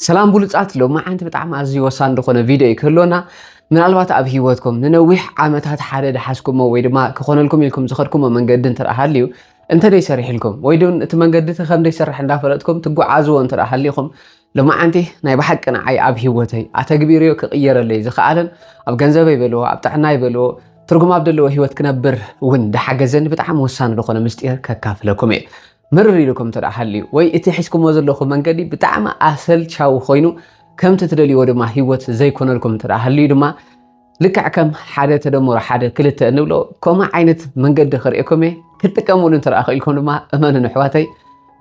ሰላም ብሉፃት ሎማዓንቲ ብጣዕሚ ኣዝዩ ወሳኒ ዝኾነ ቪድዮ እዩ ክህልወና ምናልባት ኣብ ሂወትኩም ንነዊሕ ዓመታት ሓደ ድሓዝኩሞ ወይ ድማ ክኾነልኩም ኢልኩም ዝኸድኩሞ መንገዲ እንተ ሃልዩ እንተደይ ሰሪሕልኩም ወይ ዶ እቲ መንገዲ እቲ ከምደይ ስራሕ እንዳፈለጥኩም ትጓዓዝዎ እንተ ሃሊኹም ሎማዓንቲ ናይ ብሓቂ ንዓይ ኣብ ሂወተይ ኣተግቢርዮ ክቕየረለይ ዝኸኣለን ኣብ ገንዘበይ በልዎ ኣብ ጥዕና ይበልዎ ትርጉም ኣብ ዘለዎ ሂወት ክነብር እውን ድሓገዘኒ ብጣዕሚ ወሳኒ ዝኾነ ምስጢር ከካፍለኩም እየ ምርር ኢሉኩም እንተ ደኣ ሃልዩ ወይ እቲ ሒዝኩሞ ዘለኹም መንገዲ ብጣዕሚ ኣሰልቻዊ ኮይኑ ከምቲ ትደልይዎ ድማ ህይወት ዘይኮነልኩም እንተ ደኣ ሃልዩ ድማ ልክዕ ከም ሓደ ተደምሮ ሓደ ክልተ እንብሎ ከምኡ ዓይነት መንገዲ ክርእየኩም እየ ክትጥቀምሉ እንተ ደኣ ክኢልኩም ድማ እመኑን ኣሕዋተይ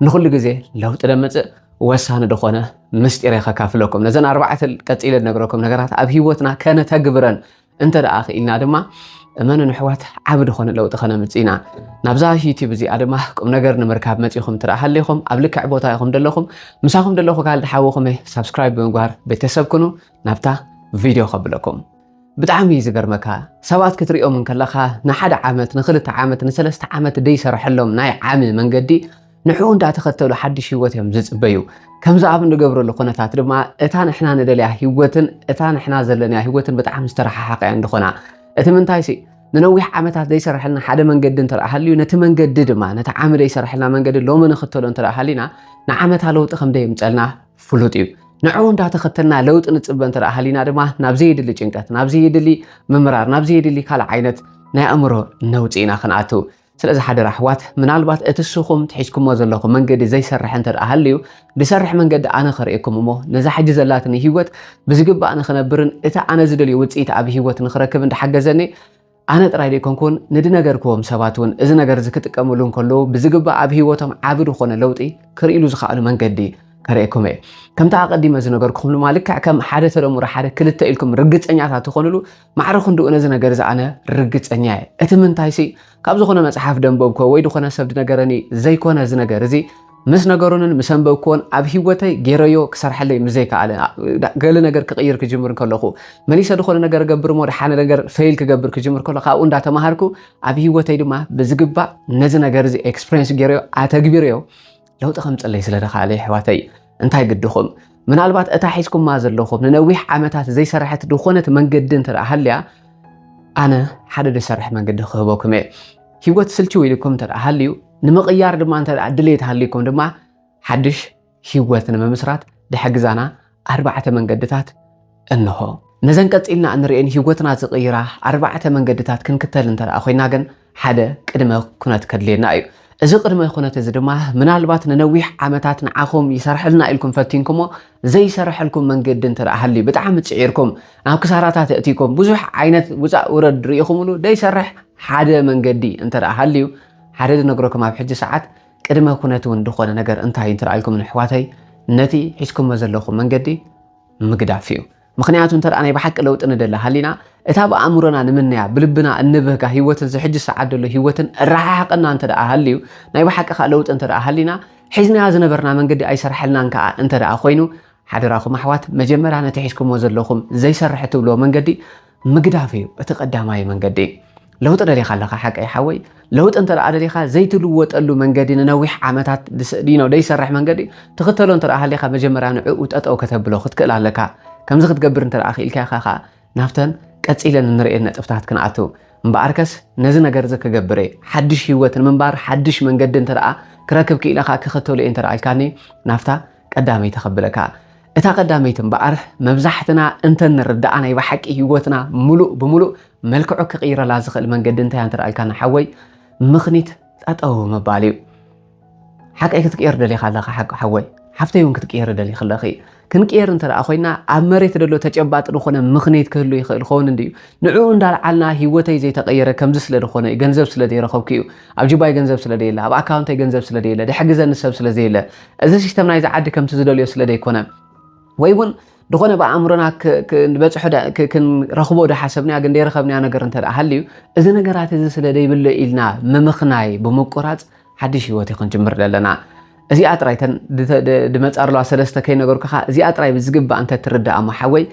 ንኹሉ ግዜ ለውጢ ደመፅእ ወሳኒ ዝኾነ ምስጢር ከካፍለኩም ነዘን ኣርባዕተ ቀፂለ ነግረኩም ነገራት ኣብ ሂወትና ከነተግብረን እንተ ደኣ ክኢልና ድማ እመኑን ኣሕዋት ዓብ ድኾነ ለውጢ ከነምጽእ ኢና ናብዛ ዩቲብ እዚኣ ድማ ቁም ነገር ንምርካብ መጺኹም ትረኣ ሃሊኹም ኣብ ልክዕ ቦታ ኢኹም ደለኹም ምሳኹም ደለኹ ካልድ ሓውኹም ሳብስክራይብ ብምግባር ቤተሰብ ኩኑ ናብታ ቪድዮ ከብለኩም ብጣዕሚ እዩ ዝገርመካ ሰባት ክትሪኦም እንከለኻ ንሓደ ዓመት ንክልተ ዓመት ንሰለስተ ዓመት ደይሰርሐሎም ናይ ዓሚ መንገዲ ንዕኡ እንዳተኸተሉ ሓድሽ ህይወት እዮም ዝፅበዩ። ከምዚ ኣብ እንገብረሉ ኩነታት ድማ እታ ንሕና ንደልያ ህይወትን እታ ንሕና ዘለንያ ህይወትን ብጣዕሚ ዝተረሓሓቐ እየን ዝኾና። እቲ ምንታይሲ ንነዊሕ ዓመታት ዘይሰርሐልና ሓደ መንገዲ እንተደኣ ሃልዩ ነቲ መንገዲ ድማ ነቲ ዓሚ ዘይሰርሐልና መንገዲ ሎሚ ንኽተሎ እንተደኣ ሃሊና ንዓመታ ለውጢ ከም ደየምፀልና ፍሉጥ እዩ። ንዕኡ እንዳተኸተልና ለውጢ ንፅበ እንተደኣ ሃሊና ድማ ናብ ዘየድሊ ጭንቀት፣ ናብ ዘየድሊ ምምራር፣ ናብ ዘየድሊ ካልእ ዓይነት ናይ ኣእምሮ ነውፂ ኢና ክንኣትው። ስለዚ ሓደራ ኣሕዋት ምናልባት እቲ እስኹም ትሒዝኩሞ ዘለኹም መንገዲ ዘይሰርሕ እንተ ደኣ ሃልዩ ዝሰርሕ መንገዲ ኣነ ክርእየኩም እሞ ነዛ ሕጂ ዘላትኒ ህይወት ብዝግባእ ንኽነብርን እቲ ኣነ ዝደልዮ ውጽኢት ኣብ ህይወት ንኽረክብ እንዳሓገዘኒ ኣነ ጥራይ ዘይኮንኩን ንድነገርክዎም ሰባት እውን እዚ ነገር እዚ ክጥቀምሉ እንከለዉ ብዝግባእ ኣብ ህይወቶም ዓቢ ዝኾነ ለውጢ ክርእሉ ዝኸኣሉ መንገዲ ከርእየኩም እየ ከምቲ ኣቐዲመ ዝነገርኩኹም ድማ ልክዕ ከም ሓደ ተደምሮ ሓደ ክልተ ኢልኩም ርግጸኛታት ትኾኑሉ ማዕረ ክንድኡ ነዚ ነገር እዚ ኣነ ርግጸኛ እየ እቲ ምንታይሲ ካብ ዝኾነ መጽሓፍ ደንበብኮ ወይ ዝኾነ ሰብ ድነገረኒ ዘይኮነ እዚ ነገር እዚ ምስ ነገሩንን ምስ ኣንበብክዎን ኣብ ሂወተይ ጌረዮ ክሰርሐለይ ምስ ዘይከኣለ ገለ ነገር ክቕይር ክጅምር ከለኹ መሊሰ ዝኾነ ነገር ገብር እሞ ድሓነ ነገር ፈይል ክገብር ክጅምር ከሎ ካብኡ እንዳተማሃርኩ ኣብ ሂወተይ ድማ ብዝግባእ ነዚ ነገር እዚ ኤክስፕሬንስ ጌረዮ ኣተግቢረዮ ለውጢ ከምፅለይ ስለ ተኻእለ የሕዋተይ እንታይ ግድኹም ምናልባት እታ ሒዝኩማ ዘለኹም ንነዊሕ ዓመታት ዘይሰራሐት ዝኾነት መንገዲ እንተ ሃልያ ኣነ ሓደ ዝሰርሐ መንገዲ ክህበኩም እየ ሂወት ስልችው ኢልኩም እንተ ሃልዩ ንምቕያር ድማ እንተ ድሌት ሃልይኩም ድማ ሓድሽ ሂወት ንምምስራት ድሕግዛና ኣርባዕተ መንገድታት እንሆ። ነዘን ቀጺልና እንርእየን ህይወትና ዝቕይራ ኣርባዕተ መንገድታት ክንክተል እንተ ደኣ ኮይና ግን ሓደ ቅድመ ኩነት ከድልየና እዩ። እዚ ቅድመ ኩነት እዚ ድማ ምናልባት ንነዊሕ ዓመታት ንዓኹም ይሰርሐልና ኢልኩም ፈቲንኩሞ ዘይሰርሐልኩም መንገዲ እንተ ደኣ ሃልዩ ብጣዕሚ ጽዒርኩም ናብ ክሳራታት ኣእቲኩም ብዙሕ ዓይነት ውጻእ ውረድ ርኢኹምሉ ዘይሰርሕ ሓደ መንገዲ እንተ ደኣ ሃልዩ ሓደ ዝነግረኩም ኣብ ሕጂ ሰዓት ቅድመ ኩነት እውን ድኾነ ነገር እንታይ እዩ እንትርኣልኩም ንሕዋተይ ነቲ ሒዝኩሞ ዘለኹም መንገዲ ምግዳፍ እዩ ምክንያቱ እንተ ናይ ብሓቂ ለውጢ ንደሊ ሃሊና እታ ብኣእምሮና ንምነያ ብልብና እንብህጋ ህይወትን ዝሕጂ ሰዓት ደሎ ህይወትን ራሓሓቀና እንተ ሃልዩ ናይ ብሓቂ ከዓ ለውጢ እንተ ሃሊና ሒዝናያ ዝነበርና መንገዲ ኣይሰርሐልናን ከዓ እንተ ኮይኑ ሓደራኹም ኣሕዋት መጀመርያ ነቲ ሒዝኩሞ ዘለኹም ዘይሰርሐ ትብልዎ መንገዲ ምግዳፍ እዩ እቲ ቀዳማይ መንገዲ። ለውጢ ደሊኻ ኣለኻ ሓቀይ ሓወይ ለውጢ እንተ ደሊኻ ዘይትልወጠሉ መንገዲ ንነዊሕ ዓመታት ዲኖ ደይሰርሕ መንገዲ ትኽተሎ እንተ ሃሊኻ መጀመርያ ንዕኡ ጠጠው ከተብሎ ክትክእል ኣለካ ከምዚ ክትገብር እንተ ክኢልካ ኢኻ ከዓ ናብተን ቀፂለን እንርእየን ነጥብታት ክንኣቱ እምበኣርከስ ነዚ ነገር እዚ ክገብር እየ ሓድሽ ህይወት ንምንባር ሓድሽ መንገዲ እንተ ክረክብ ክኢለኻ ክኽተሉ እየ እንተ ኢልካኒ ናብታ ቀዳመይቲ ከብለካ እታ ቀዳመይቲ እምበኣር መብዛሕትና እንተ ንርድኣ ናይ ብሓቂ ህይወትና ምሉእ ብምሉእ መልክዑ ክቕይረላ ዝኽእል መንገዲ እንታይ እንተ ኣልካና ሓወይ ምኽኒት ጠጠው ምባል እዩ ሓቀይ ክትቅየር ደሊኻ ኣለኻ ሓቂ ሓወይ ሓፍተይ እውን ክትቅየሪ ደሊኺ ኣለኺ ክንቅየር እንተ ደኣ ኮይና ኣብ መሬት ደሎ ተጨባጢ ዝኾነ ምኽንየት ክህሉ ይኽእል ኸውን እንድዩ ንዕኡ እንዳልዓልና ሂወተይ ዘይተቐየረ ከምዚ ስለ ዝኾነ እዩ ገንዘብ ስለ ዘይረኸብኩ እዩ ኣብ ጅባይ ገንዘብ ስለ ደየለ ኣብ ኣካውንተይ ገንዘብ ስለ ደየለ ድሕር ግዘ ንሰብ ስለ ዘየለ እዚ ሲስተም ናይዚ ዓዲ ከምቲ ዝደልዮ ስለ ደይኮነ ወይ ውን ድኾነ ብኣእምሮና ክንበጽሖ ክንረኽቦ ዳሓሰብናዮ ግን ደይረኸብናዮ ነገር እንተ ሃልዩ እዚ ነገራት እዚ ስለ ደይብሎ ኢልና ምምኽናይ ብምቁራጽ ሓድሽ ህይወት ክንጅምር ደለና እዚኣ ጥራይ ተን ድመጻ ኣለዋ ሰለስተ ከይነገርኩኻ እዚኣ ጥራይ ብዝግባእ እንተ ትርዳእ እሞ ሓወይ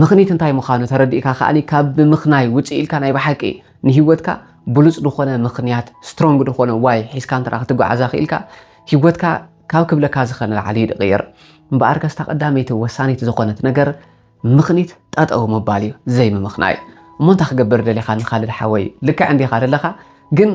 ምኽኒት እንታይ ምዃኑ ተረዲእካ ከኣኒ ካብ ብምኽናይ ውጽእ ኢልካ ናይ ብሓቂ ንህይወትካ ብሉጽ ድኾነ ምኽንያት ስትሮንግ ድኾነ ዋይ ሒዝካ እንተ ክትጓዓዛ ክኢልካ ሂወትካ ካብ ክብለካ ዝክእል ንላዕሊ እዩ ድቅይር እምበኣር ከስታ ቀዳመይቲ ወሳኒት ዝኮነት ነገር ምክኒት ጠጠው ምባል እዩ ዘይ ምምክናይ እሞ እንታይ ክገብር ደሊካ ንካልድ ሓወይ ልክዕ እንዲካ ደለካ ግን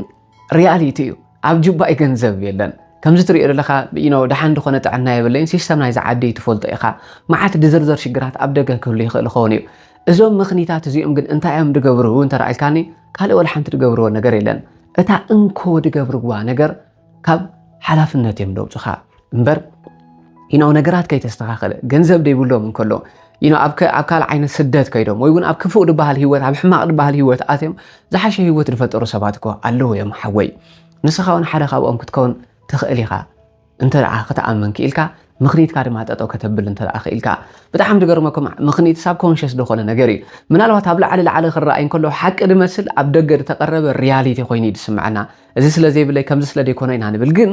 ሪያሊቲ እዩ ኣብ ጁባይ ገንዘብ የለን ከምዚ ትሪኦ ዘለካ ዩኖ ደሓን ድኮነ ጥዕና የብለይን ሲስተም ናይዚ ዓዲ ትፈልጦ ኢካ መዓት ድዝርዘር ሽግራት ኣብ ደገ ክህሉ ይክእል ይኸውን እዩ እዞም ምክኒታት እዚኦም ግን እንታይ እዮም ድገብሩ እንተረኣልካኒ ካልእ ወላ ሓንቲ ድገብርዎ ነገር የለን እታ እንኮ ድገብርዋ ነገር ካብ ሓላፍነት እዮም ደውፅኻ እምበር ይነው ነገራት ከይተስተኻኸለ ገንዘብ ደይብሎም እንከሎ ይነው ኣብ ካልእ ዓይነት ስደት ከይዶም ወይ እውን ኣብ ክፉእ ድበሃል ህይወት ኣብ ሕማቕ ድበሃል ህይወት ኣትዮም ዝሓሸ ህይወት ዝፈጠሩ ሰባት እኮ ኣለዉ እዮም ሓወይ ንስኻ እውን ሓደ ካብኦም ክትከውን ትኽእል ኢኻ እንተ ደኣ ክትኣምን ክኢልካ ምኽኒትካ ድማ ጠጠው ከተብል እንተ ደኣ ክኢልካ ብጣዕሚ ዝገርመኩም ምኽኒት ሳብ ኮንሽስ ዝኾነ ነገር እዩ ምናልባት ኣብ ላዕሊ ላዕሊ ክረኣይ እንከሎ ሓቂ ዝመስል ኣብ ደገ ዝተቐረበ ሪያሊቲ ኮይኑ እዩ ዝስምዐና እዚ ስለ ዘይብለይ ከምዚ ስለ ዘይኮነ ኢና ንብል ግን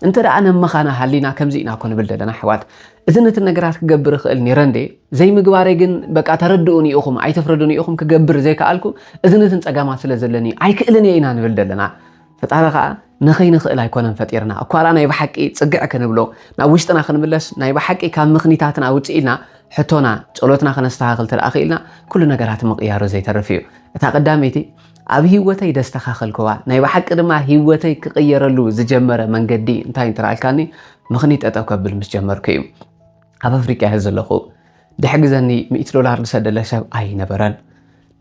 እንተ ደኣ ነመኻና ሃሊና ከምዚ ኢና እኮ ንብል ዘለና ኣሕዋት እዚ ነቲ ነገራት ክገብር ይኽእል ነይረ እንዴ ዘይምግባረይ ግን በቃ ተረድኡኒ ኢኹም ኣይተፍረዱኒ ኢኹም ክገብር ዘይከኣልኩ እዚ ነትን ጸጋማት ስለ ዘለኒ ኣይክእልን እየ ኢና ንብል ዘለና ፈጣሪ ከዓ ንኸይንኽእል ኣይኮነን ፈጢርና እኳ ደኣ ናይ ብሓቂ ጽግዕ ክንብሎ ናብ ውሽጥና ክንምለስ ናይ ብሓቂ ካብ ምኽኒታትና ውፅእ ኢልና ሕቶና ጸሎትና ከነስተኻኽል ተደኣ ክኢልና ኩሉ ነገራት ምቕያሩ ዘይተርፍ እዩ እታ ቀዳመይቲ ኣብ ህይወተይ ደስተኻኸልክዋ፣ ናይ ብሓቂ ድማ ህይወተይ ክቕየረሉ ዝጀመረ መንገዲ እንታይ እንትረኣልካኒ ምኽኒት ጠጠው ከብል ምስ ጀመርኩ እዩ። ኣብ ኣፍሪቃ እየ ዘለኹ። ድሕግዘኒ ሚእቲ ዶላር ዝሰደለ ሰብ ኣይነበረን።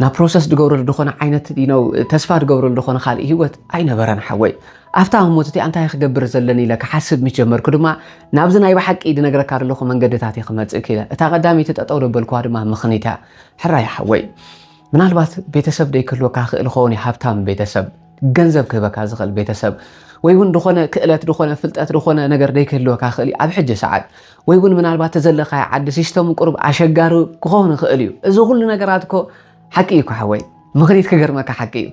ናብ ፕሮሰስ ድገብረሉ ዝኾነ ዓይነት ነው ተስፋ ድገብረሉ ዝኾነ ካልእ ህይወት ኣይነበረን ሓወይ። ኣብታ ህሞት እቲኣ እንታይ ክገብር ዘለኒ ኢለ ክሓስብ ምስ ጀመርኩ ድማ ናብዚ ናይ ብሓቂ ድነግረካ ዘለኹ መንገድታት እየ ክመጽእ ክኢለ። እታ ቀዳመይቲ ጠጠው ደበልክዋ ድማ ምኽኒት እያ። ሕራይ ሓወይ። ምናልባት ቤተሰብ ደይክህልወካ ክእል ይኸውን እዩ ሃብታም ቤተሰብ ገንዘብ ክህበካ ዝኽእል ቤተሰብ ወይ እውን ዝኾነ ክእለት ዝኾነ ፍልጠት ዝኾነ ነገር ደይክህልወካ ክእል እዩ ኣብ ሕጂ ሰዓት ወይ እውን ምናልባት ተዘለካዮ ዓዲ ሲስተሙ ቁርብ ኣሸጋሪ ክኸውን ይኽእል እዩ እዚ ኩሉ ነገራት እኮ ሓቂ እዩ ኳሓወይ ምኽኒት ክገርመካ ሓቂ እዩ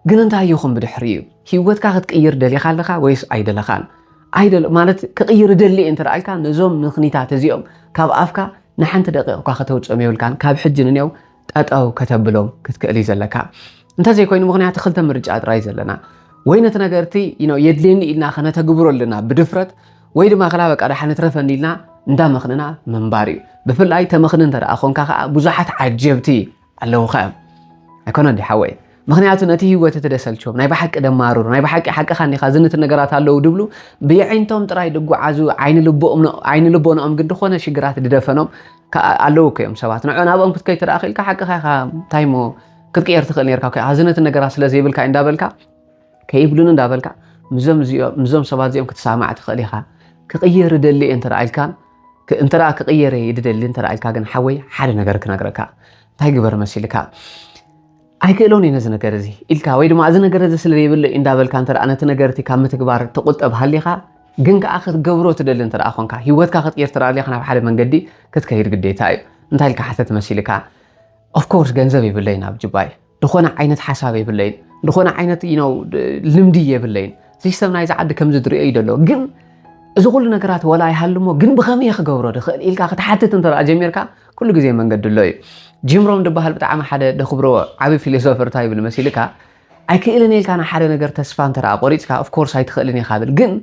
ግን እንታይ ይኹን ብድሕሪ እዩ ሂወትካ ክትቅይር ደሊኻ ኣለኻ ወይስ ኣይደለኻን ኣይደለ ማለት ክቕይር ደሊ እየ እንተደኣልካ ነዞም ምኽኒታት እዚኦም ካብ ኣፍካ ንሓንቲ ደቂቕ እኳ ከተውፅኦም የብልካን ካብ ሕጂ ንኔው ጠጠው ከተብሎም ክትክእል እዩ ዘለካ እንተዘይኮይኑ ምክንያቱ ክልተ ምርጫ ጥራይ ዘለና ወይ ነቲ ነገርቲ የድልየኒ ኢልና ከነተግብሮ ኣለና ብድፍረት ወይ ድማ ክላ በቃ ዳሓ ንትረፈኒ ኢልና እንዳመኽንና ምንባር እዩ ብፍላይ ተመኽኒ እንተ ኮንካ ከዓ ብዙሓት ዓጀብቲ ኣለውኻ እዮም ኣይኮነ ዲ ሓወይ ምክንያቱ ነቲ ህይወት እቲ ደሰልችዎም ናይ ብሓቂ ደማርሩ ናይ ብሓቂ ሓቅኻ እንዲኻ ዝንት ነገራት ኣለዉ ድብሉ ብየዒንቶም ጥራይ ድጓዓዙ ዓይኒ ልቦንኦም ግን ድኾነ ሽግራት ድደፈኖም ኣለዉ እኮ እዮም ሰባት ንዖ ናብኦም ክትከይ ትደኣ ክኢልካ ሓቅኻ ኢኻ እንታይ እሞ ክትቅየር ትኽእል ነርካ እኮ ዝንት ነገራት ስለ ዘይብልካ እንዳበልካ ከይብሉን እንዳበልካ ምዞም ሰባት እዚኦም ክትሰማዕ ትኽእል ኢኻ ክቕየር እደሊ እየ እንተ ኢልካን እንተ ክቕየር እየ ድደሊ እንተ ኢልካ ግን ሓወይ ሓደ ነገር ክነግረካ እንታይ ግበር መሲልካ ኣይክእሎን እየ ነዚ ነገር እዚ ኢልካ ወይ ድማ እዚ ነገር እዚ ስለ ዘይብሎ እዩ እንዳበልካ እንተ ነቲ ነገር እቲ ካብ ምትግባር ትቑጠብ ሃሊኻ ግን ከኣ ክትገብሮ ትደሊ እንተ ኮንካ ሂወትካ ክትቅይር እንተ ደሊኻ ናብ ሓደ መንገዲ ክትከይድ ግዴታ እዩ እንታይ ኢልካ ሓተት መሲልካ ኦፍ ኮርስ ገንዘብ የብለይን ኣብ ጁባይ ዝኾነ ዓይነት ሓሳብ የብለይን ዝኾነ ዓይነት ነው ልምዲ የብለይን ሲስተም ናይዚ ዓዲ ከምዚ ዝድሪኦ እዩ ዘሎ ግን እዚ ኩሉ ነገራት ወላ ይሃልሞ ግን ብኸመይ ክገብሮ ድኽእል ኢልካ ክትሓትት እንተ ጀሚርካ ኩሉ ግዜ መንገዲ ኣሎ እዩ ጂም ሮም ድበሃል ብጣዕሚ ሓደ ደክብሮ ዓቢ ፊሎሶፈር እንታይ ይብል መሲልካ ኣይክእልን ኢልካ ንሓደ ነገር ተስፋ እንተ ቆሪፅካ ኦፍኮርስ ኣይትኽእልን ኢኻ ብል ግን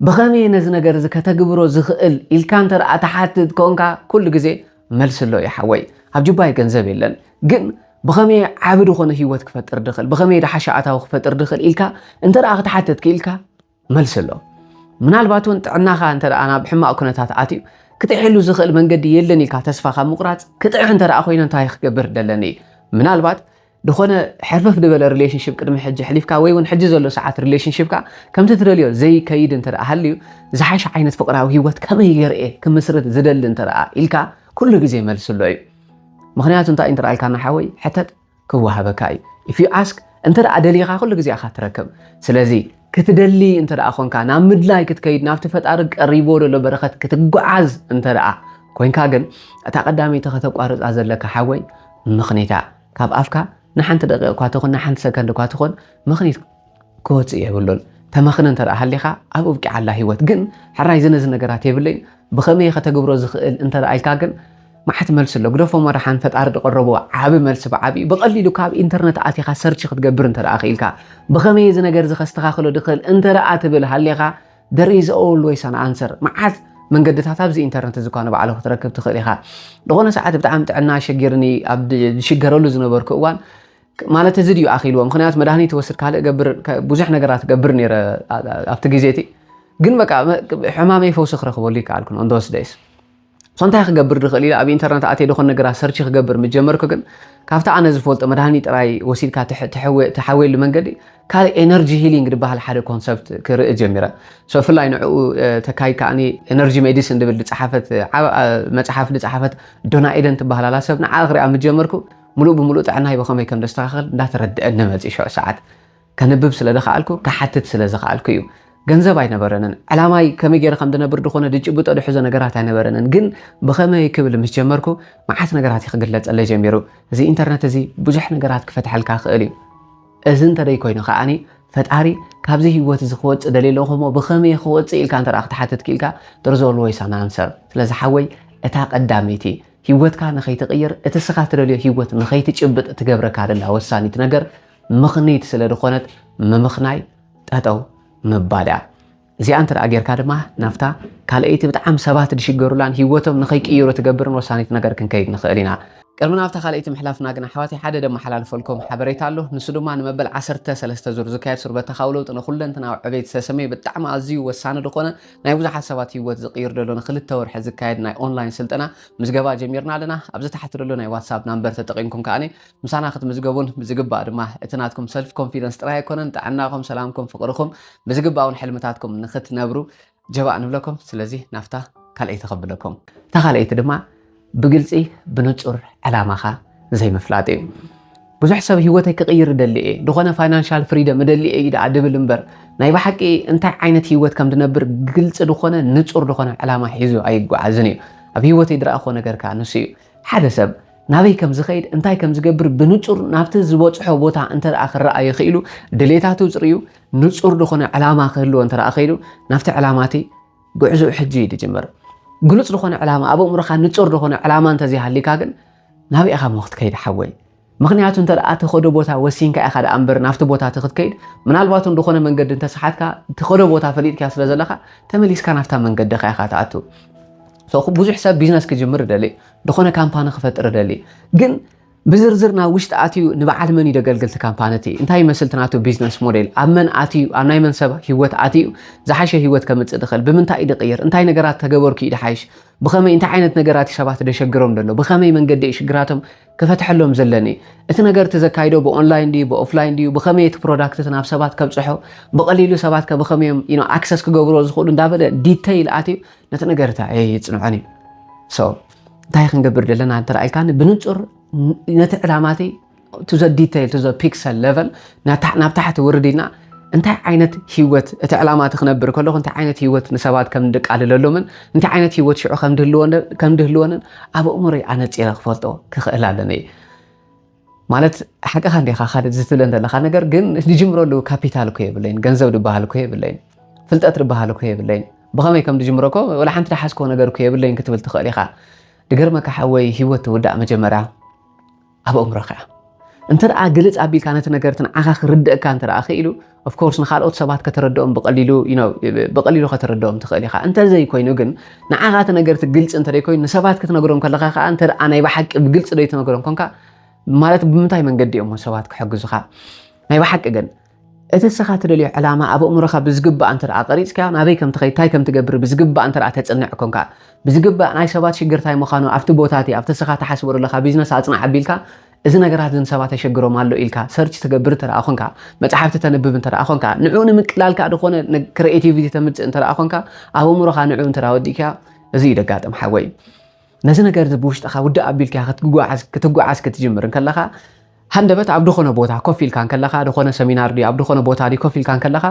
ብኸመይ ነዚ ነገር እዚ ከተግብሮ ዝኽእል ኢልካ እንተ ትሓትት ኮንካ ኩሉ ግዜ መልሲ ኣሎ እዩ ሓወይ ኣብ ጅባይ ገንዘብ የለን ግን ብኸመይ ዓቢ ዝኾነ ህይወት ክፈጥር ድኽእል ብኸመይ ድሓሻ ኣታዊ ክፈጥር ድኽእል ኢልካ እንተ ክትሓትት ክኢልካ መልሲ ኣሎ። ምናልባት እውን ጥዕናኻ እንተ ናብ ሕማቕ ኩነታት ኣትዩ ክጥዕሕሉ ዝኽእል መንገዲ የለን ኢልካ ተስፋ ካብ ምቑራፅ ክጥዕሕ እንተ ኮይኑ እንታይ ክገብር ደለኒ ምናልባት ዝኾነ ሕርፍፍ ዝበለ ሪሌሽንሽፕ ቅድሚ ሕጂ ሕሊፍካ ወይ እውን ሕጂ ዘሎ ሰዓት ሪሌሽንሽፕካ ከምቲ ትደልዮ ዘይከይድ እንተ ሃልዩ ዝሓሸ ዓይነት ፍቕራዊ ሂወት ከመይ ገይረ ክምስርት ዝደሊ እንተ ኢልካ ኩሉ ግዜ መልሲ ኣሎ እዩ ምክንያቱ እንታይ እንተ ኢልካና ሓወይ ሕተት ክወሃበካ እዩ if you ask እንተ ደሊኻ ኩሉ ግዜ ኢኻ ትረክብ ስለዚ ክትደሊ እንተ ኮንካ ናብ ምድላይ ክትከይድ ናብቲ ፈጣሪ ቀሪቦ ዘሎ በረኸት ክትጓዓዝ እንተ ኮንካ ግን እታ ቀዳመይቲ ከተቋርፃ ዘለካ ሓወይ ምኽኒታ ካብ ኣፍካ ንሓንቲ ደቂቕ እኳ ትኹን ንሓንቲ ሰከንድ እኳ ትኹን ምኽኒት ክወፅእ የብሉን ተመኽነ እንተ ሃሊኻ ኣብ ኣብቂዓላ ሂወት ግን ሕራይ ዝነዚ ነገራት የብለይን ብኸመይ እየ ከተግብሮ ዝኽእል እንተ ኢልካ ግን መዓት መልሲ ኣሎ ግደፎ መራሓን ፈጣሪ ድቐረቦ ዓቢ መልሲ ብዓቢኡ ብቐሊሉ ካብ ኢንተርነት ኣቲኻ ሰርች ክትገብር እንተ ክኢልካ ብኸመይ እየ እዚ ነገር እዚ ከስተኻኽሎ ድኽእል እንተ ትብል ሃሊኻ there is always an answer መዓት መንገድታት ኣብዚ ኢንተርነት እዚ እኳ ንባዕሉ ክትረክብ ትኽእል ኢኻ ዝኾነ ሰዓት ብጣዕሚ ጥዕና ሸጊርኒ ኣብ ዝሽገረሉ ዝነበርኩ እዋን ማለት እዚ ድዩ ኣኺልዎ ምኽንያት መድሃኒት ይወስድ ካልእ ገብር ብዙሕ ነገራት ገብር ነይረ ኣብቲ ግዜ እቲ ግን በቃ ሕማመይ ፈውሲ ክረኽበሉ ይከኣልኩን ኦንዶስ ደይስ ሶ እንታይ ክገብር ድኽእል ኢለ ኣብ ኢንተርነት ኣትየ ዝኾን ነገራት ሰርች ክገብር ምጀመርኩ ግን ካብቲ ኣነ ዝፈልጦ መድሃኒት ጥራይ ወሲድካ ትሓወየሉ መንገዲ ካልእ ኤነርጂ ሂሊንግ ዝበሃል ሓደ ኮንሰፕት ክርኢ ጀሚረ ብፍላይ ንዕኡ ተካይ ከዓኒ ኤነርጂ ሜዲሲን ድብል ዝፀሓፈት መፅሓፍ ዝፀሓፈት ዶና ኤደን ትበሃል ኣላ ሰብ ንዓ ክሪኣ ምጀመርኩ ምሉእ ብምሉእ ጥዕናይ ብኸመይ ከም ዘስተኻኸል እንዳተረድኣኒ መጺኡ ሽዑ ሰዓት። ከንብብ ስለ ዝኸኣልኩ ክሓትት ስለ ዝኸኣልኩ እዩ። ገንዘብ ኣይነበረንን። ዕላማይ ከመይ ገይረ ከም ዝነብር ድኾነ ድጭብጦ ድሕዞ ነገራት ኣይነበረንን። ግን ብኸመይ ክብል ምስ ጀመርኩ መዓት ነገራት እዩ ክግለጸለይ ጀሚሩ። እዚ ኢንተርነት እዚ ብዙሕ ነገራት ክፈትሓልካ ይኽእል እዩ። እዚ እንተደይ ኮይኑ ከዓኒ ፈጣሪ ካብዚ ህይወት እዚ ክወፅእ ደልየ ኣለኹ እሞ ብኸመይ ክወፅእ ኢልካ እንተ ክትሓትት ክኢልካ ዶርዞ ኦልወይስ ኣን ኣንሰር። ስለዚ ሓወይ እታ ቀዳመይቲ ህይወትካ ንኸይትቕይር እቲ እስኻ ትደልዮ ህይወት ንኸይትጭብጥ እትገብረካ ደላ ወሳኒት ነገር ምኽንይት ስለ ዝኾነት ምምኽናይ ጠጠው ምባል እያ። እዚኣ እንተ ደኣ ጌርካ ድማ ናብታ ካልኣይቲ ብጣዕሚ ሰባት ዝሽገሩላን ህይወቶም ንኸይቅይሩ እትገብርን ወሳኒት ነገር ክንከይድ ንኽእል ኢና። ቅድሚ ናብታ ካልኣይቲ ምሕላፍና ግን ኣሕዋተይ ሓደ ደመሓላልፈልኩም ሓበሬታ ኣሎ። ንሱ ድማ ንመበል ዓሰርተ ሰለስተ ዙር ዝካየድ ሱር በተኻዊ ለውጢ ንኹለንትናዊ ዕቤት ዝተሰምየ ብጣዕሚ ኣዝዩ ወሳኒ ዝኾነ ናይ ብዙሓት ሰባት ህይወት ዝቕይር ዘሎ ንክልተ ወርሒ ዝካየድ ናይ ኦንላይን ስልጠና ምዝገባ ጀሚርና ኣለና። ኣብዚ ታሕቲ ዘሎ ናይ ዋትሳፕ ናምበር ተጠቒምኩም ከኣ ምሳና ክትምዝገቡን ብዝግባእ ድማ እቲ ናትኩም ሰልፍ ኮንፊደንስ ጥራይ ኣይኮነን ጥዕናኹም፣ ሰላምኩም፣ ፍቕርኹም ብዝግባእ እውን ሕልምታትኩም ንክትነብሩ ጀባእ ንብለኩም። ስለዚ ናብታ ካልኣይቲ ከብለኩም። እታ ካልኣይቲ ድማ ብግልፂ ብንፁር ዕላማኻ ዘይምፍላጥ እዩ። ብዙሕ ሰብ ህይወተይ ክቕይር እደሊ እየ፣ ዝኾነ ፋይናንሻል ፍሪደም እደሊ እየ ደኣ ድብል እምበር ናይ ብሓቂ እንታይ ዓይነት ህይወት ከም ድነብር ግልፂ ዝኾነ ንፁር ዝኾነ ዕላማ ሒዙ ኣይጓዓዝን እዩ። ኣብ ህይወተይ ድረኣኾ ነገር ከዓ ንሱ እዩ። ሓደ ሰብ ናበይ ከም ዝኸይድ እንታይ ከም ዝገብር ብንጹር ናብቲ ዝበጽሖ ቦታ እንተ ደኣ ክረኣየ ኽኢሉ ድሌታቱ ጽርዩ ንጹር ዝኾነ ዕላማ ክህልዎ እንተ ደኣ ኸኢሉ ናብቲ ዕላማ እቲ ጉዕዞኡ ሕጂ እዩ ዝጅምር። ግሉጽ ዝኾነ ዕላማ ኣብ ኣእምሮኻ ንጹር ዝኾነ ዕላማ እንተዘይሃሊካ ግን ናበይ ኢኻ እሞ ክትከይድ ሓወይ? ምኽንያቱ እንተ ደኣ ትኸዶ ቦታ ወሲንካ ኢኻ ደኣ እምበር ናብቲ ቦታ እቲ ክትከይድ ምናልባት እውን ዝኾነ መንገዲ እንተሰሓትካ ትኸዶ ቦታ ፈሊጥካ ስለ ዘለኻ ተመሊስካ ናብታ መንገድኻ ኢኻ ትኣቱ። ብዙሕ ሰብ ቢዝነስ ክጅምር ይደሊ፣ ዝኾነ ካምፓኒ ክፈጥር ይደሊ ግን ብዝርዝር ናብ ውሽጢ ኣትዩ ንበዓል መን እዩ ደገልግል እቲ ካምፓኒ እቲ እንታይ ይመስል እቲ ናቱ ቢዝነስ ሞዴል ኣብ መን ኣትዩ ኣብ ናይ መን ሰብ ሂወት ኣትዩ ዝሓሸ ሂወት ከምፅእ ድኽእል ብምንታይ እዩ ድቕይር እንታይ ነገራት ተገበርኩ እዩ ድሓይሽ ብኸመይ እንታይ ዓይነት ነገራት እዩ ሰባት ደሸግሮም ደሎ ብኸመይ መንገዲ እዩ ሽግራቶም ክፈትሐሎም ዘለኒ እቲ ነገር እቲ ዘካይዶ ብኦንላይን ድዩ ብኦፍላይን ድዩ ብኸመይ እቲ ፕሮዳክት እቲ ናብ ሰባት ከብፅሖ ብቐሊሉ ሰባት ከ ብኸመይ እዮም ኣክሰስ ክገብርዎ ዝኽእሉ እንዳበለ ዲተይል ኣትዩ ነቲ ነገር እታ ይፅንዖን እዩ እንታይ ክንገብር ዘለና እንተረኣልካኒ ብንፁር ነቲ ዕላማቲ ቱ ዘ ዲተይል ቱ ዘ ፒክሰል ሌቨል ናብ ታሕቲ ውርድ ኢልና እንታይ ዓይነት ህይወት እቲ ዕላማ እቲ ክነብር ከለኹ እንታይ ዓይነት ህይወት ንሰባት ከም ድቃልለሎምን እንታይ ዓይነት ህይወት ሽዑ ከም ድህልወንን ኣብ ኣእምሮይ ኣነፂረ ክፈልጦ ክኽእል ኣለኒ ማለት ሓቅኻ እንዲኻ ካልድ ዝትብለ ዘለኻ ነገር ግን ዝጅምረሉ ካፒታል እኮ የብለይን ገንዘብ ድበሃል እኮ የብለይን ፍልጠት ድበሃል እኮ የብለይን ብኸመይ ከም ድጅምሮ እኮ ወላ ሓንቲ ድሓዝኮ ነገር እኮ የብለይን ክትብል ትኽእል ኢኻ ድገርመካ ሓወይ ሂወት ትውዳእ መጀመርያ ኣብ እምሮኻ እንተ ግልፅ ኣቢልካ ነቲ ነገርትን ዓኻ ክርደእካ እንተ ክኢሉ Of course ንኻልኦት ሰባት ከተረድኦም ብቐሊሉ you know ብቐሊሉ ከተረድኦም ትኽእል ኢኻ እንተዘይ ኮይኑ ግን ንዓኻ እቲ ነገር እቲ ግልፂ እንተደይ ኮይኑ ንሰባት ክትነግሮም ከለኻ ከዓ እንተ ናይ ብሓቂ ብግልፂ ደይ ትነግሮም ኮንካ ማለት ብምንታይ መንገዲ እዮም ሰባት ክሕግዙኻ ናይ ብሓቂ ግን እቲ እስኻ ትደልዮ ዕላማ ኣብ ኣእምሮኻ ብዝግባእ እንተ ቀሪፅካዮ ናበይ ከም ትኸይድ እንታይ ከም ትገብር ብዝግባእ እንተ ተፅንዕ ኮንካ ብዝግባእ ናይ ሰባት ሽግር እንታይ ምዃኑ ኣብቲ ቦታ እቲ ኣብቲ እስኻ ትሓስቦ ዘለኻ ቢዝነስ ኣፅናዕ ኣቢልካ እዚ ነገራት እዚ ንሰባት የሸግሮም ኣሎ ኢልካ ሰርች ትገብር እንተ ኾንካ፣ መጽሓፍቲ ተንብብ እንተ ኾንካ፣ ንዕኡ ንምቅላል ከኣ ዝኾነ ክረኤቲቪቲ ተምጽእ እንተ ኾንካ፣ ኣብ ኣእምሮኻ ንዕኡ እንተ ወዲእካዮ እዚ እዩ ደጋጥም ሓወይ። ነዚ ነገር እዚ ብውሽጥኻ ውድእ ኣቢልካ ክትጓዓዝ ክትጓዓዝ ክትጅምር እንከለኻ ሃንደበት ኣብ ዝኾነ ቦታ ኮፍ ኢልካ እንከለኻ ዝኾነ ሰሚናር ድዩ ኣብ ዝኾነ ቦታ ድዩ ኮፍ ኢልካ እንከለኻ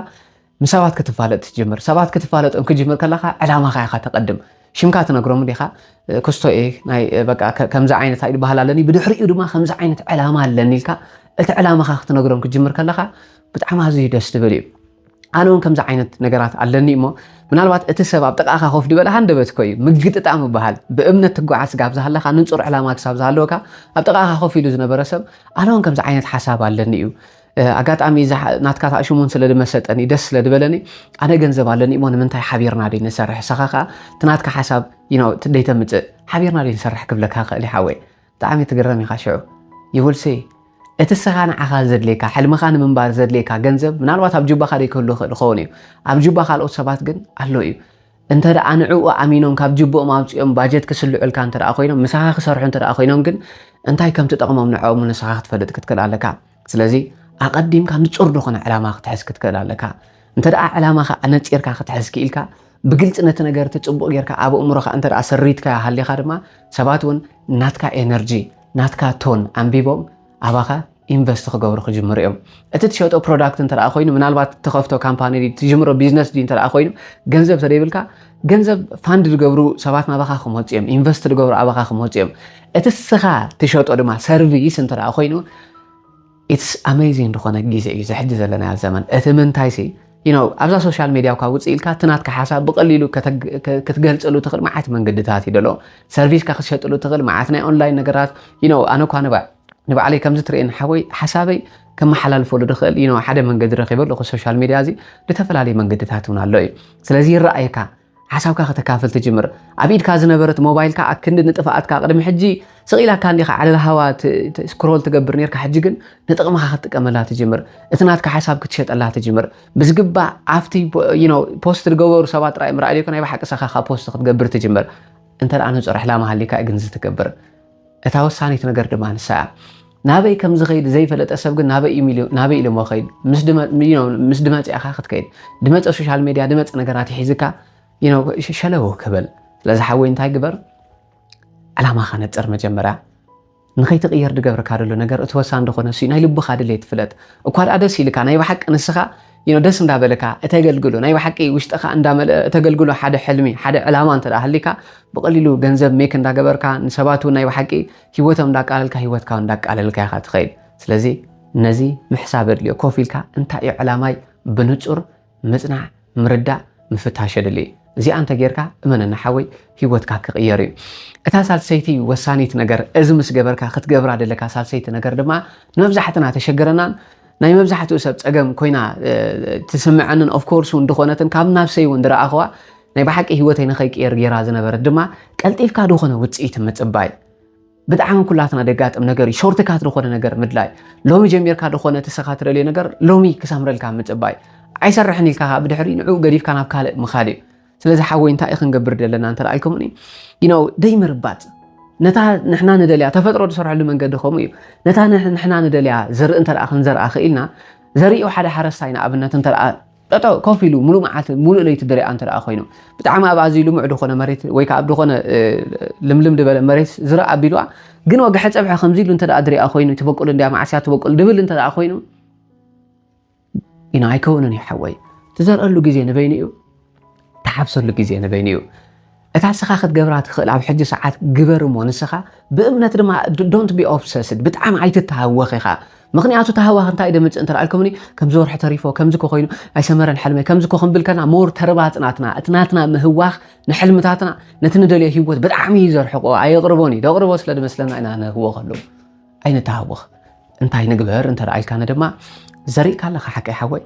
ንሰባት ክትፋለጥ ትጅምር። ሰባት ክትፋለጦም ክትጅምር ከለኻ ዕላማኻ ኢኻ ተቐድም። ሽምካ ትነግሮም እንዲኻ ክስቶ እየ ናይ በቃ ከምዚ ዓይነት ኣይዲ ባህል ኣለኒ ብድሕሪኡ ድማ ከምዚ ዓይነት ዕላማ ኣለኒ ኢልካ እቲ ዕላማኻ ክትነግሮም ክትጅምር ከለኻ ብጣዕሚ ኣዝዩ ደስ ዝብል እዩ። ኣነ እውን ከምዚ ዓይነት ነገራት ኣለኒ እሞ ምናልባት እቲ ሰብ ኣብ ጥቃኻ ኮፍ ዝበለ ሃንደበት እኮ እዩ ምግጥጣም ይበሃል ብእምነት ትጓዓዝ ስጋብ ዝሃለኻ ንፁር ዕላማ ክሳብ ዝሃለወካ ኣብ ጥቃኻ ኮፍ ኢሉ ዝነበረ ሰብ ኣነ እውን ከምዚ ዓይነት ሓሳብ ኣለኒ እዩ ኣጋጣሚ እዛ ናትካ ታእ ሽሙን ስለ ድመሰጠኒ ደስ ስለ ድበለኒ ኣነ ገንዘብ ኣለኒ እሞ ንምንታይ ሓቢርና ደይ ንሰርሕ ሰኻ ከዓ ትናትካ ሓሳብ ደይተምፅእ ሓቢርና ደይ ንሰርሕ ክብለካ ክእል ይሓወይ ብጣዕሚ ትግረም ኢኻ ሽዑ ይውልሰይ እቲ ሰኻ ንዓኻ ዘድልየካ ሕልምኻ ንምንባር ዘድልየካ ገንዘብ ምናልባት ኣብ ጁባኻ ደይከሉ ይኽእል ይኸውን እዩ ኣብ ጁባ ካልኦት ሰባት ግን ኣሎ እዩ እንተ ደኣ ንዕኡ ኣሚኖም ካብ ጅብኦም ኣውፅኦም ባጀት ክስልዑልካ እንተ ደኣ ኮይኖም ምሳኻ ክሰርሑ እንተ ደኣ ኮይኖም ግን እንታይ ከም ትጠቕሞም ንዕኦም ንስኻ ክትፈልጥ ክትክእል ኣለካ ስለዚ ኣቐዲምካ ንጹር ዝኾነ ዕላማ ክትሕዝ ክትክእል ኣለካ እንተ ደኣ ዕላማኻ ኣነጺርካ ክትሕዝ ክኢልካ ብግልፂ ነቲ ነገር እቲ ፅቡቅ ጌርካ ኣብ እምሮካ እንተ ሰሪትካ ሃሊካ ድማ ሰባት እውን ናትካ ኤነርጂ ናትካ ቶን ኣንቢቦም ኣባኻ ኢንቨስት ክገብሩ ክጅምሩ እዮም እቲ ትሸጦ ፕሮዳክት እንተ ኮይኑ ምናልባት ተኸፍቶ ካምፓኒ ትጅምሮ ቢዝነስ እንተ ኮይኑ ገንዘብ ተደይብልካ ገንዘብ ፋንድ ዝገብሩ ሰባት ናባኻ ክመፁ እዮም ኢንቨስት ዝገብሩ ኣባኻ ክመፁ እዮም እቲ ስኻ ትሸጦ ድማ ሰርቪስ እንተ ኮይኑ ኢትስ ኣሜዚንግ ዝኾነ ግዜ እዩ ዝሕጂ ዘለና ዘመን እቲ ምንታይ ሲ ነው ኣብዛ ሶሻል ሚዲያ እኳ ውፅእ ኢልካ እቲ ናትካ ሓሳብ ብቐሊሉ ክትገልፀሉ ትኽእል መዓት መንገድታት እዩ ደሎ ሰርቪስካ ክትሸጥሉ ትኽእል መዓት ናይ ኦንላይን ነገራት ነው ኣነ እኳ ንባዕ ንባዕለይ ከምዚ ትርእየኒ ሓወይ ሓሳበይ ከመሓላልፈሉ ድኽእል ዩኖ ሓደ መንገዲ ረኺበ ኣለኹ ሶሻል ሚድያ እዚ ብተፈላለየ መንገድታት እውን ኣሎ እዩ ስለዚ ይረኣየካ ሓሳብካ ከተካፍል ትጅምር ኣብ ኢድካ ዝነበረት ሞባይልካ ኣክንዲ ንጥፍኣትካ ቅድሚ ሕጂ ስቂላካ እንዲኻ ዓለል ሃዋ ስክሮል ትገብር ነርካ ሕጂ ግን ንጥቕምኻ ክትጥቀመላ ትጅምር እቲ ናትካ ሓሳብ ክትሸጠላ ትጅምር ብዝግባእ ኣብቲ ፖስት ዝገበሩ ሰባት ጥራይ ምርኣይ ዘይኮነ ናይ ብሓቂ ሰኻኻ ፖስት ክትገብር ትጅምር እንተ ንፁር ዕላማ ሃሊካ ግን ዝትገብር እታ ወሳኒት ነገር ድማ ንሳ እያ። ናበይ ከም ዝኸይድ ዘይፈለጠ ሰብ ግን ናበይ እዩ ናበይ ኢሎሞ ኸይድ ምስ ድመፀ ኢኻ ክትከይድ ድመፀ ሶሻል ሜድያ ድመፀ ነገራት ይሒዝካ ሸለው ክብል ስለዚ ሓወይ እንታይ ግበር ዕላማኻ ነፅር መጀመርያ ንኸይትቕየር ድገብርካ ደሎ ነገር እቲ ወሳኒ ደኾነ እሱ ናይ ልብኻ ድሌት ፍለጥ እኳ ደኣ ደስ ኢልካ ናይ ብሓቂ ንስኻ ዩ ደስ እንዳበለካ እተገልግሎ ናይ ብሓቂ ውሽጥካ እንዳመልእ እተገልግሎ ሓደ ሕልሚ ሓደ ዕላማ እንተ ሃሊካ ብቀሊሉ ገንዘብ ሜክ እንዳገበርካ ንሰባት እውን ናይ ብሓቂ ሂወቶም እንዳቃለልካ ሂወትካ እንዳቃለልካ ኢካ ትኸይድ ስለዚ ነዚ ምሕሳብ የድልዮ ኮፍ ኢልካ እንታይ እዩ ዕላማይ ብንጹር ምጽናዕ ምርዳእ ምፍታሽ የድሊ እዩ እዚኣ እንተ ጌርካ እመነና ሓወይ ሂወትካ ክቕየር እዩ እታ ሳልሰይቲ ወሳኒት ነገር እዚ ምስ ገበርካ ክትገብራ ደለካ ሳልሰይቲ ነገር ድማ ንመብዛሕትና ተሸገረናን ናይ መብዛሕትኡ ሰብ ጸገም ኮይና ትስምዐንን ኦፍ ኮርስ እውን ድኾነትን ካብ ናብሰይ እውን ድረኣኽዋ ናይ ብሓቂ ህይወተይ ንኸይቅየር ገይራ ዝነበረት ድማ ቀልጢፍካ ድኾነ ውጽኢት ምጽባይ ብጣዕሚ ኩላትና ደጋጥም ነገር እዩ ሾርትካት ድኾነ ነገር ምድላይ ሎሚ ጀሚርካ ድኾነ ትስኻ ትደልዮ ነገር ሎሚ ክሰምረልካ ምጽባይ ኣይሰርሕን ኢልካ ብድሕሪ ንዕኡ ገዲፍካ ናብ ካልእ ምኻድ እዩ ስለዚ ሓወይ እንታይ ክንገብር ዘለና እንተልኣልከሙኒ ዩኖ ደይምርባፅ ነታ ንሕና ንደልያ ተፈጥሮ ዝሰርሐሉ መንገዲ ከምኡ እዩ ነታ ንሕና ንደልያ ዘርኢ እንተ ክንዘርኣ ክኢልና ዘሪኡ ሓደ ሓረስታይ ንኣብነት እንተ ጠጠ ኮፍ ኢሉ ሙሉእ መዓልቲ ሙሉእ ለይቲ ድሪኣ እንተ ኮይኑ ብጣዕሚ ኣብ ኣዝዩ ልሙዕ ዝኾነ መሬት ወይ ከዓ ኣብ ዝኾነ ልምልም ድበለ መሬት ዝረኣ ኣቢልዋ ግን ወግሐ ፀብሐ ከምዚ ኢሉ እንተ ድሪኣ ኮይኑ ትበቁል እንዲያ ማዕስያ ትበቁል ድብል እንተ ኮይኑ ኢና ኣይከውንን እዩ ሓወይ ትዘርአሉ ግዜ ንበይኑ እዩ ትሓፍሰሉ ግዜ ንበይኑ እዩ እታ ንስኻ ክትገብራ ትኽእል ኣብ ሕጂ ሰዓት ግበር እሞ ንስኻ ብእምነት ድማ ዶንት ቢ ኦብሰስድ ብጣዕሚ ኣይትተሃወኽ ኢኻ ምክንያቱ ተሃዋኽ እንታይ ደምፅእ እንተ ኣልኩምኒ ከምዚ ወርሒ ተሪፎ ከምዚ ኮ ኮይኑ ኣይሰመረን ሕልመይ ከምዚ ኮ ክንብል ከና ሞር ተርባፅ ናትና እቲ ናትና ምህዋኽ ንሕልምታትና ነቲ ንደልዮ ሂወት ብጣዕሚ እዩ ዘርሕቆ ኣየቕርቦን እዩ ደቕርቦ ስለ ድመስለና ኢና ንህወኸሉ ኣይንተሃወኽ እንታይ ንግበር እንተደኣኢልካነ ድማ ዘሪእካ ኣለኻ ሓቀይ ሓወይ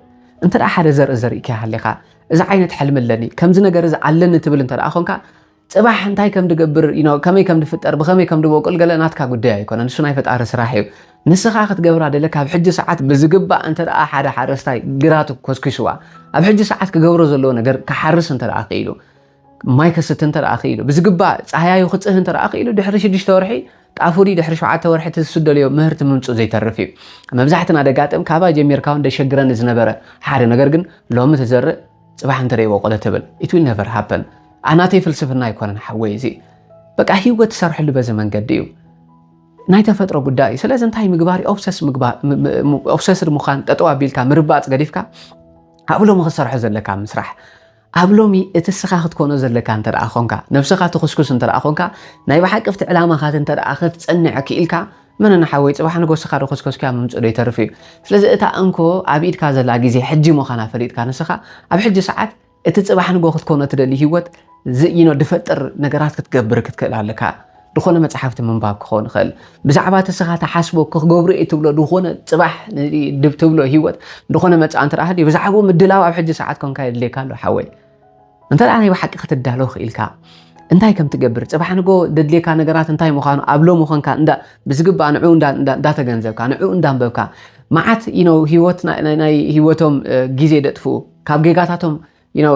እንተ ሓደ ዘርኢ ዘሪእካ ሃሊኻ እዚ ዓይነት ሕልሚ ኣለኒ ከምዚ ነገር እዚ ኣለኒ ትብል እንተ ኮንካ ፅባሕ እንታይ ከም ድገብር ከመይ ከም ድፍጠር ብኸመይ ከም ድበቁል ገለ ናትካ ጉዳይ ኣይኮነን እሱ ናይ ፈጣሪ ስራሕ እዩ ንስኻ ክትገብራ ደለ ካብ ሕጂ ሰዓት ብዝግባእ እንተ ሓደ ሓረስታይ ግራቱ ኮስኪስዋ ኣብ ሕጂ ሰዓት ክገብሮ ዘለዎ ነገር ክሓርስ እንተ ክኢሉ ማይ ከስቲ እንተ ክኢሉ ብዝግባእ ጻህያዩ ክጽህ እንተ ክኢሉ ድሕሪ ሽዱሽተ ወርሒ ጣፍ ድዩ ድሕሪ ሸውዓተ ወርሒ እቲ ዝስደልዮ ምህርቲ ምምፅኡ ዘይተርፍ እዩ መብዛሕትና ደጋጥም ካባይ ጀሚርካ እውን ደሸግረኒ ዝነበረ ሓደ ነገር ግን ሎሚ ትዘርእ ፅባሕ እንተ ይወቆለ ትብል ኢት ዊል ነቨር ሃፐን ኣናተይ ፍልስፍና ኣይኮነን ሓወይ እዚ በቃ ህይወት ትሰርሐሉ በዚ መንገዲ እዩ ናይ ተፈጥሮ ጉዳይ እዩ ስለዚ እንታይ ምግባር ኦብሰስድ ምዃን ጠጠው ኣቢልካ ምርባፅ ገዲፍካ ኣብሎም ክሰርሖ ዘለካ ምስራሕ ኣብ ሎሚ እቲ እስኻ ክትኮኖ ዘለካ እንተ ደኣ ኾንካ፣ ነብሰኻ ትኹስኩስ እንተ ደኣ ኾንካ፣ ናይ ብሓቂ ኣብቲ ዕላማኻት እንተ ደኣ ክትጸንዕ ክኢልካ፣ መነና ሓወይ ጽባሕ ንግሆ እስኻ ዶ ኮስኮስካዮ ምምጽኡ ዶ ይተርፍ እዩ። ስለዚ እታ እንኮ ኣብ ኢድካ ዘላ ግዜ ሕጂ ምዃና ፈሊጥካ ንስኻ ኣብ ሕጂ ሰዓት እቲ ጽባሕ ንግሆ ክትኮኖ እትደሊ ሂወት ዝይኖ ድፈጥር ነገራት ክትገብር ክትክእል ኣለካ። ድኾነ መጽሓፍቲ ምንባብ ክኸውን ይኽእል ብዛዕባ እቲ ንስኻ ትሓስቦ ክገብሮ እየ ትብሎ ድኾነ ጽባሕ ድብ ትብሎ ህይወት ድኾነ መጽኣ እንተ ሃልዩ ብዛዕባኡ ምድላው ኣብ ሕጂ ሰዓት ኮንካ የድልየካ ኣሎ ሓወይ እንተ ናይ ብሓቂ ክትዳሎ ክኢልካ እንታይ ከም ትገብር ጽባሕ ንጎ ደድልየካ ነገራት እንታይ ምዃኑ ኣብ ሎሚ ኮንካ እንዳ ብዝግባእ ንዕኡ እንዳተገንዘብካ ንዕኡ እንዳንበብካ መዓት ነው ህይወት ናይ ህይወቶም ግዜ ደጥፍኡ ካብ ጌጋታቶም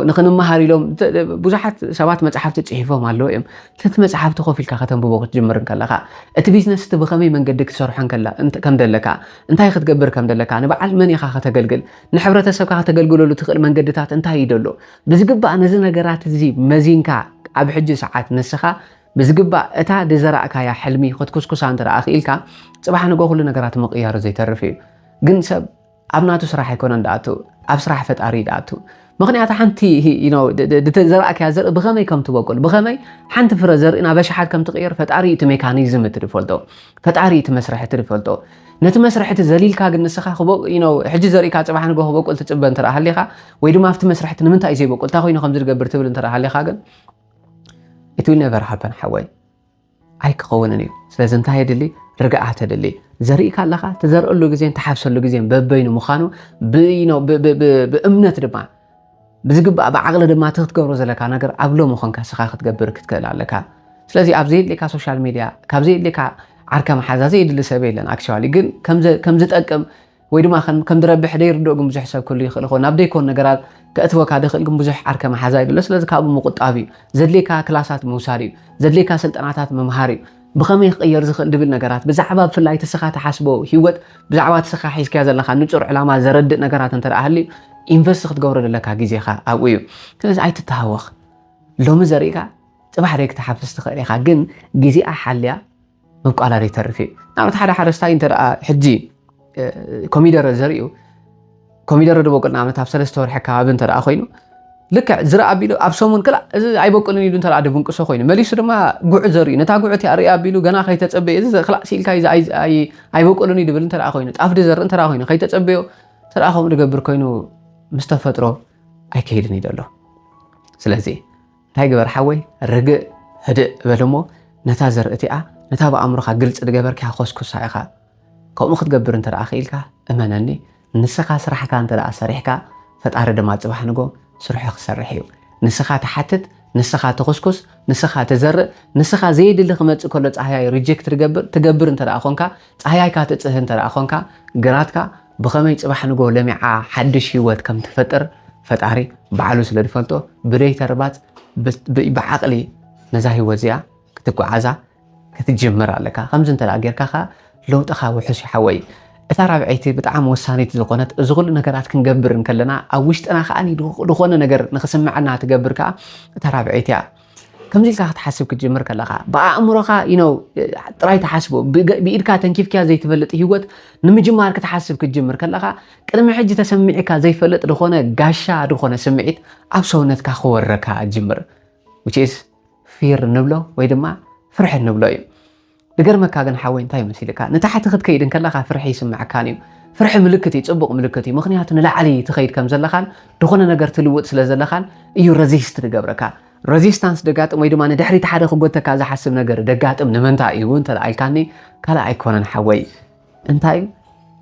ንክንመሃር ኢሎም ብዙሓት ሰባት መፅሓፍቲ ፅሒፎም ኣለዉ እዮም ተቲ መፅሓፍቲ ኮፍ ኢልካ ከተንብቦ ክትጅምር ከለካ እቲ ቢዝነስ እቲ ብከመይ መንገዲ ክትሰርሖ ከም ደለካ እንታይ ክትገብር ከም ደለካ ንበዓል መን ኢካ ከተገልግል ንሕብረተሰብካ ከተገልግለሉ ትኽእል መንገድታት እንታይ እዩ ደሎ ብዝግባእ ነዚ ነገራት እዚ መዚንካ ኣብ ሕጂ ሰዓት ንስኻ ብዝግባእ እታ ድዘራእካያ ሕልሚ ክትኩስኩሳ እንተ ክኢልካ ፅባሕ ንጎ ኩሉ ነገራት ምቕያሩ ዘይተርፍ እዩ ግን ሰብ ኣብ ናቱ ስራሕ ኣይኮነን ድኣቱ ኣብ ስራሕ ፈጣሪ ድኣቱ ምክንያቱ ሓንቲ ዘርኣክያ ዘርኢ ብከመይ ከም ትበቁል ብከመይ ሓንቲ ፍረ ዘርኢ ናብ ኣሽሓት ከም ትቅየር ፈጣሪ እቲ ሜካኒዝም እቲ ዝፈልጦ ፈጣሪ እቲ መስርሒ እቲ ዝፈልጦ ነቲ መስርሒ እቲ ዘሊልካ ግን ንስኻ ሕጂ ዘርእካ ፅባሕ ንጎ ክበቁል ትፅበ እንተ ሃሊኻ ወይ ድማ ኣብቲ መስርሒ እቲ ንምንታይ ዘይበቁል እንታይ ኮይኑ ከም ዝገብር ትብል እንተ ሃሊኻ ግን ኢት ዊል ነቨር ሃፐን ሓወይ ኣይክኸውንን እዩ ስለዚ እንታይ የድሊ ርግኣት የድሊ ዘሪእካ ኣለኻ ትዘርእሉ ግዜን ትሓፍሰሉ ግዜን በበይኑ ምዃኑ ብእምነት ድማ ብዝግባእ ብዓቕሊ ድማ እቲ ክትገብሮ ዘለካ ነገር ኣብ ሎ ምኾንካ ስኻ ክትገብር ክትክእል ኣለካ ስለዚ ኣብ ዘየድልካ ሶሻል ሚድያ ካብ ዘየድልካ ዓርከ መሓዛ ዘየድሊ ሰብ የለን ኣክቸዋሊ ግን ከምዝጠቅም ወይ ድማ ከም ከም ድረብሕ ደይርድኦ ግን ብዙሕ ሰብ ክህሉ ይኽእል ይኸውን ናብ ደይኮን ነገራት ከእትወካ ደኽእል ግን ብዙሕ ዓርከ መሓዛ ይብሎ ስለዚ ካብኡ ምቁጣብ እዩ ዘድልየካ ክላሳት ምውሳድ እዩ ዘድልየካ ስልጠናታት ምምሃር እዩ ብኸመይ ክቕየር ዝኽእል ድብል ነገራት ብዛዕባ ብፍላይ ትስኻ ትሓስቦ ሂወት ብዛዕባ ትስኻ ሒዝካዮ ዘለካ ንጹር ዕላማ ዘረድእ ነገራት እንተ ሃልዩ ኢንቨስት ክትገብሮ ዘለካ ግዜኻ ኣብኡ እዩ ስለዚ ኣይትተሃወኽ ሎሚ ዘሪእካ ጽባሕ ደይ ክትሓፍስ ትኽእል ኢኻ ግን ግዜኣ ሓልያ ምብቋላ ዘይተርፍ እዩ ንኣብነት ሓደ ሓረስታይ እንተ ሕጂ ኮሚደረ ዘርዩ ኮሚደረ ድበቁል ንኣብነት ኣብ ሰለስተ ወርሒ ከባቢ እንተ ኮይኑ ልክዕ ዝረ ኣቢሉ ኣብ ሰሙን ክላ እዚ ኣይበቁልን ኢሉ እንተ ድብንቅሶ ኮይኑ መሊሱ ድማ ጉዕ ዘርዩ ነታ ጉዕ እቲኣ ርኢ ኣቢሉ ገና ከይተፀበየ እዚ ክላ ሲኢልካ ኣይበቁልን እዩ ድብል እንተ ኮይኑ ጣፍ ድዘርእ እንተ ኮይኑ ከይተፀበዮ እንተ ከምኡ ድገብር ኮይኑ ምስ ተፈጥሮ ኣይከይድን እዩ ዘሎ ስለዚ እንታይ ግበር ሓወይ ርግእ ህድእ በል እሞ ነታ ዘርኢ እቲኣ ነታ ብኣእምሮኻ ግልፂ ዝገበርካያ ኮስኩሳ ኢኻ ከምኡ ክትገብር እንተ ክኢልካ እመነኒ ንስኻ ስራሕካ እንተ ሰሪሕካ ፈጣሪ ድማ ፅባሕ ንጎ ስርሑ ክሰርሕ እዩ ንስኻ ትሓትት ንስኻ ትኹስኩስ ንስኻ ትዘርእ ንስኻ ዘየድሊ ክመፅእ ከሎ ፃህያይ ሪጀክት ትገብር ትገብር እንተ ኮንካ ፃህያይካ ትፅህ እንተ ኮንካ ግራትካ ብኸመይ ጽባሕ ንግሆ ለሚዓ ሓድሽ ህይወት ከም ትፈጥር ፈጣሪ ባዕሉ ስለ ዝፈልጦ ብደይ ተርባጽ ብዓቕሊ ነዛ ህይወት እዚኣ ክትጓዓዛ ክትጅምር ኣለካ ከምዚ እንተ ጌርካ ከ ለውጥኻ ውሑስ ይሓወይ እታ ራብዐይቲ ብጣዕሚ ወሳኒት ዝኾነት እዚ ኩሉ ነገራት ክንገብር እንከለና ኣብ ውሽጥና ከዓ ዝኾነ ነገር ንክስምዐና ትገብር ከዓ እታ ራብዐይቲ እያ ከምዚ ኢልካ ክትሓስብ ክትጅምር ከለኻ ብኣእምሮኻ you know ጥራይ ትሓስቦ ብገ- ብኢድካ ተንኪፍክያ ዘይትፈልጥ ህይወት ንምጅማር ክትሓስብ ክትጅምር ከለኻ ቅድሚ ሕጂ ተሰሚዕካ ዘይፈልጥ ዝኾነ ጋሻ ዝኾነ ስምዒት ኣብ ሰውነትካ ክወረካ ጅምር which is ፊር ንብሎ ወይ ድማ ፍርሒ ንብሎ እዩ ድገርመካ ግን ሓወይ እንታይ መሲልካ ንታሕቲ ክትከይድ እንከለኻ ፍርሒ ይስመዐካን እዩ ፍርሒ ምልክት እዩ ጽቡቅ ምልክት እዩ ምክንያቱ ንላዕሊ ትኸይድ ከም ዘለኻን ድኾነ ነገር ትልውጥ ስለ ዘለኻን እዩ ረዚስት ድገብረካ ረዚስታንስ ደጋጥም ወይ ድማ ንድሕሪት ሓደ ክጎተካ ዝሓስብ ነገር ደጋጥም ንምንታይ እዩ እንተ ኢልካኒ ካልእ ኣይኮነን ሓወይ እንታይ እዩ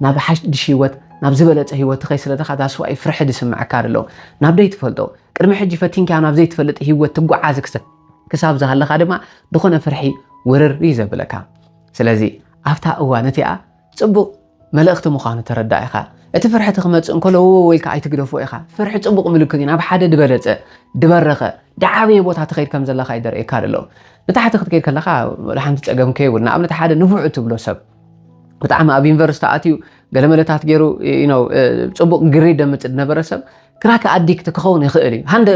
ናብ ሓድሽ ህይወት ናብ ዝበለጸ ህይወት ትኸይ ስለ ደኻ ዳስዋይ ፍርሒ ዝስምዐካ ኣሎ ናብ ደይ ትፈልጦ ቅድሚ ሕጂ ፈቲንካዮ ናብ ዘይትፈልጥ ህይወት ትጓዓዝ ክሰብ ክሳብ ዝሃለኻ ድማ ዝኾነ ፍርሒ ውርር እዩ ዘብለካ ስለዚ ኣብታ እዋን እቲኣ ጽቡቕ መልእኽቲ ምዃኑ ተረዳ ኢኻ እቲ ፍርሒ እቲ ክመጽእ እንከሎ ወወ ኢልካ ኣይትግደፎ ኢኻ ፍርሒ ጽቡቕ ምልክት እዩ ናብ ሓደ ድበለጸ ድበረኸ ድዓበየ ቦታ ትኸይድ ከም ዘለኻ ይደርእየካ ኣሎ ንታሕቲ ክትከይድ ከለኻ ወላ ሓንቲ ጸገም ከይብሉ ንኣብነት ሓደ ንፉዕ እትብሎ ሰብ ብጣዕሚ ኣብ ዩኒቨርስቲ ኣትዩ ገለመለታት ገይሩ ፅቡቅ ግሬድ ደምፅ ዝነበረ ሰብ ክራከ ኣዲክት ክኸውን ይኽእል እዩ ሃንደ